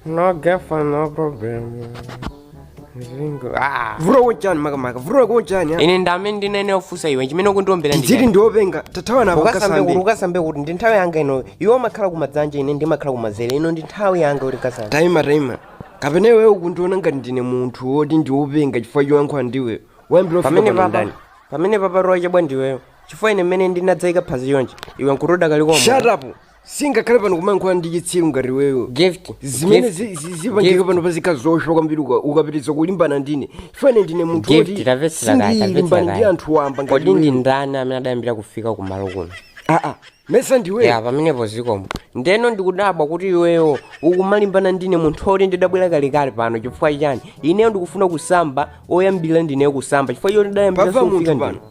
No girlfriend, no problem. Zingo. Ah. vura wonjani makamaka vura wonjani ya Ine ndamene ndinene ofusa iwe chimene ukundiwombera ndi. ndili ndiopenga tathawa navo ukasambe kuti ukasambe ukasambe kuti ndi nthawi yanga ino iwe umakhala kumadzanja ine ndimakhala kumazere ino ndi nthawi yanga kuti ukasambe taima taima kapena iwe ukundiona ngati ndine munthu woti ndiopenga chifukwa choyankhula ndiwe wayambira pamene kufika papa ndani pamene papa rocha bwa ndiweyo chifukwa ine mmene ndinadzayika phazi chonchi iwe nkuti udakali shut up sindingakhale pano kumayankhula ndi chitsiru ngati iweyo gift zimene gift, zi- zi- zipangika gift. pano pachitika zoopsa kwambiri uka- ukapitiriza kulimbana ndine chifukwa ndine munthu Gift, woti tamvetsera kaye, sindilimbana tamvetsera ndi kaye. anthu wamba ngati iweyo. kodi ndi ndani amene adayambira kufika kumalo kuno aa amesa ndiweyo ya pamenepo zikomo ndiyeno ndikudabwa kuti iweyo ukumalimbana ndine munthu oti ndidabwera kalekale pano chifukwa chani ineyo ndikufuna kusamba oyambirira ndineyo kusamba chifukwa choti ndidayambira pava sindifika munthu ndine pano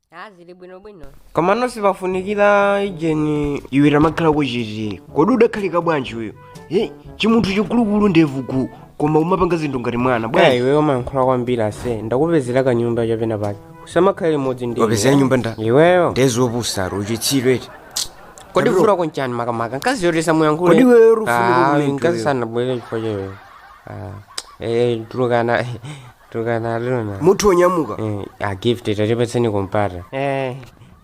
Ah, zili bwino bwino. koma nonse pafunikira hygiene iwe tamakhala ku cheat kodi udakhalika bwanji iweyo he chimunthu chikulukulu ndevu uku koma umapanga zinthu ngati mwana bwana bwana iwe umayankhula kwambiri ase ndakupezera kanyumba chapenapake usamakhale limodzi nde wapezera nyumba ndani iweyo nde zopusazo uchitsiru eti kodi Kabilo. vuto lako nchani makamaka nkazi yotesa muyankhule Kodi iweyo uli ufuna kukulenga nkazi iweyo? sanabwere chifukwa cha iweyo Ah, eh tulukana tukanaluna munthu onyamuka Eh, a gift tatipatseni kampata Eh,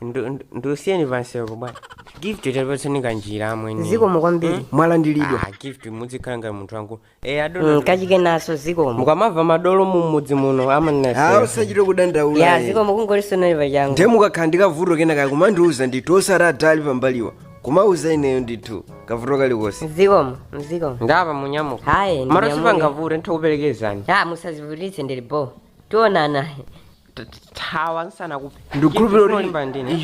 ndu- ndu- ndusiyeni pansiko bwana gift tatipatseni kanjira amwene zikomo kwambiri mwalandilidwa Ah, gift muzikhala ngati munthu wangu eh adona Mm, kachike naso zikomo mukamamva madolo mumudzi muno awo amanina musachite kudandaula ya eh. zikomo kungolisonali pachangu nde mukakhala ndi kavuto kenaka kumandiuza ndithu osati adali pambaliwa kumauza ineyo ndithu kavuto kalikonse zikomo zikomo nde apa munyamuka hayi mara ndinyamuka. sipangavute nditha kukuperekezani ha musazivutitse ndili bo tionana thawa ndisanakuphe ndikukhulupirira kuti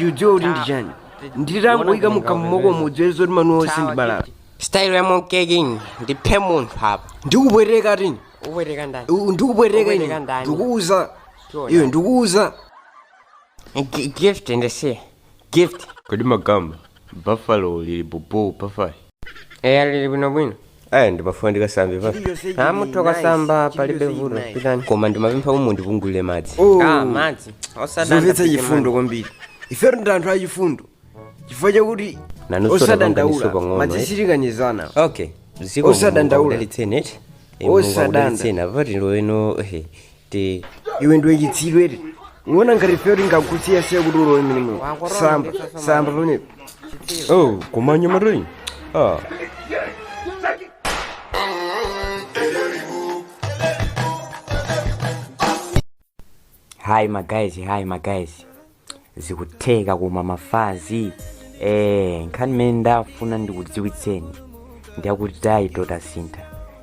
udzadziwa kuti ndi chani nditangoyika mukamwa mwakomo udziwe zoti mano onse ndi balala style ya monkey king ndiphe munthu apa ndikupweteka tini upweteka ndani U- ndikupweteka Upweteka ine ndani? ndikuuza Tiona. iwe ndikuuza Gi- gift ndisiye gift kodi magamba buffalo lili bobo bafayi eya lili bwinobwino aya ndimafuna ndikasambe bafa iliyonse a mutha kukasamba palibe vuto pitani koma ndimapempha mundipungulire madzi ah madzi osadanda zomvetsa pite chifundo madzi. kwambiri ifeyo ndi anthu achifundo chifukwa chakuti Nanunso tapanganiso osadandaula pang'ono, madzi eh? sitikanizana okay zikomo Osadandaula. mudalitseni eti Osadanda. mudalitseni apa tiloweno te iwe ndiwe chitsiru eti uona ngati ifeyo tingakusiya siya kuti ulowe mumeneumu samba samba pamenepo oh koma mnyamatayi ah hi ma guys hi ma guys zikutheka koma mafazi eh nkhani imene ndafuna ndikudziwitseni ndiyakuti taito tasintha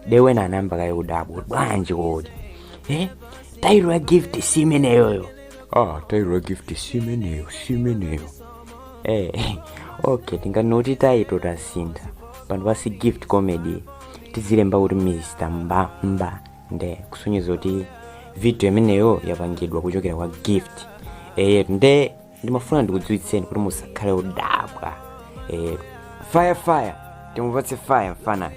dewena anayamba kaye kudabwa bwanji kodi eh taito ya gift si imeneyoyo ah taito ya gift si imeneyo si imeneyo eh okay tinganoti taito tasintha pano pansi gift comedy tizilemba kuti mr mbamba nde kusonyeza kuti video imeneyo yapangidwa kuchokera kwa gift eh nde ndimafuna ndikudziwitseni kuti musakhale odabwa eh fire fire timupatse fire mfana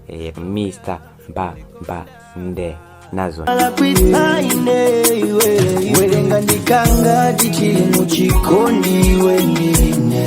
eh mr mbamba nde nazo alakwisa ine iwe werenga ndikanga tichiri muchikondi iwe ndine